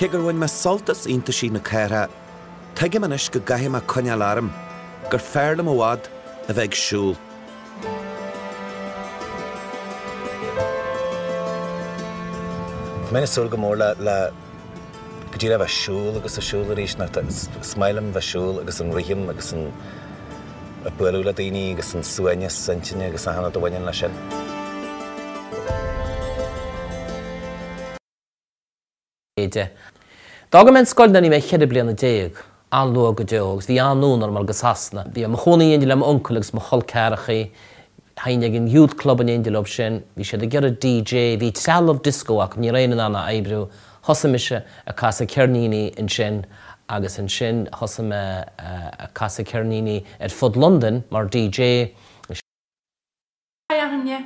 Cé gur bhain mé sult as iontaisí na cathrach, tuigim anois go gcaithfidh mé coinneáil orm, gur fearr liom i bhfad a bheith ag siúl. Tá mé ag súil go mór le. Go dtí le bheith siúl agus a siúl arís nó is maith liom bheith siúl agus an rithim agus an bualadh le daoine agus an suaimhneas intinne agus achan rud a bhaineann leis sin. D'fhága mé an scoil nuair a bhí mé cheithre bliana déag. an-luath go deo agus bhí an-fhonn orm a ghoil go Sasana. Bhí mé i mo chónaí in éindí le m'uncail agus mo chol ceathrachaí. Théinn ag an youth club in éindí leo sin. Bhí siad ag iarraidh DJ, bhí trealamh disco acu, ní raibh éinne in ann a oibriú. Thosaigh mise ag casadh ceirníní ansin agus ansin thosaigh mé ag casadh ceirníní ar fud Londain mar DJ. Hé a dhaoine,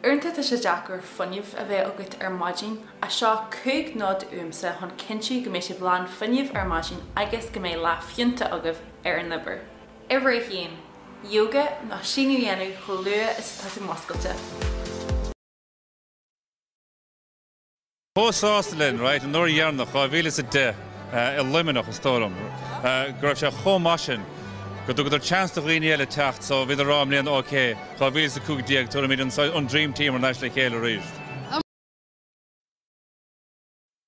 uaireanta tá sé deacair fuinneamh a bheith agat ar maidin. Seo cúig nod uaimse chun cinntiú go mbeidh sibh lán fuinneamh ar maidin agus go mbeidh lá fiúntach agaibh ar an obair. Uimhir a haon, Yoga nó síneadh a dhéanamh chomh luath is atá tú muscailte. Chomh sásta linn, right? An uair dheireanach, 2010, i Luimneach, is dóigh liom, go raibh sé chomh maith sin go dtugadar chance do dhaoine eile teacht so bhíodar á rá i mbliana, OK, 2015, tabharfaimid an, an Dream Team thar n-ais le chéile arís. A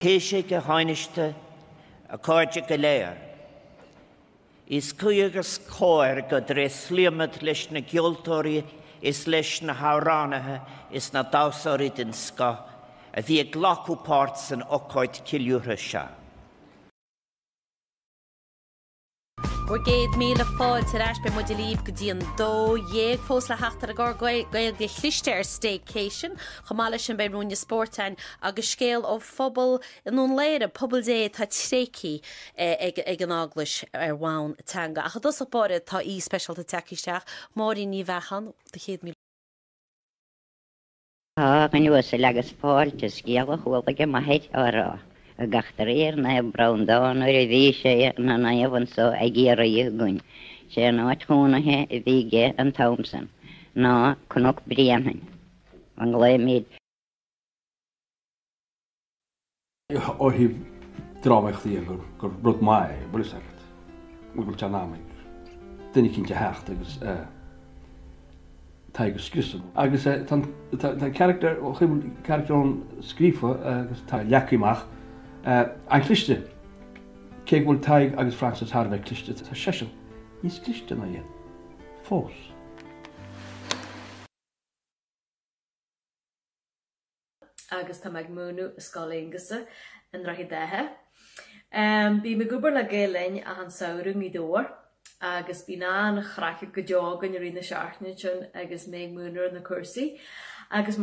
Thaoisigh, a Thánaiste, a chairde go léir. Is cuí agus is cóir go dtréaslaímid leis na gceoltóirí is leis na hamhránaithe is na damhsóirí den scoth a bhí ag glacadh páirt san ócáid ceiliúrtha seo. Bhur gcéad míle fáilte ar ais, beidh muid libh go dtí an 12:00 fós le theacht ar an gclár Gaeilge chliste ar Staycation. Chomh maith leis sin beidh ruainne spóirt againn agus scéal ó. phobal i nDún Laoghaire, Pobal Dé atá tréigthe ag an Eaglais ar bhonn teanga. Ach i dtosach báire tá aoi speisialta tagtha isteach, Máirín Ní Bheacháin, do chéad míle. A dhuine uasail agus fáilte. Scéal a chuala ag m'athair á rá ag eachtraí ar Naomh Breandán nuair a bhí sé ina naomh anso i gCiarraí againn. Sé an áit chónaithe a bhí aige an t-am san ná Cnoc Bréanainn. A nglaoimid. ó thaobh drámaíocht dhe gur gur rud maith é, bhfuil fhios agat. Go bhfuil seans ann ag duine eicínt a theacht agus eh Tadhg a scriosadh agus eh tá an tá an character ó thaobh an character ón scríofa agus tá sé leagthaí amach eh an-chliste. Cé go bhfuil Tadhg agus Frances thar a bheith cliste tá seisean níos cliste ná iad. Fós. agus tá mé ag múineadh i Scoil Aonghusa i nDroichead Átha. Bím ag obair le Gael Linn achan samhradh i nGaoth Dobhair agus bíonn an-chraic go deo againn i rith na seachtaine ansin agus mé ag múineadh ar na cúrsaí agus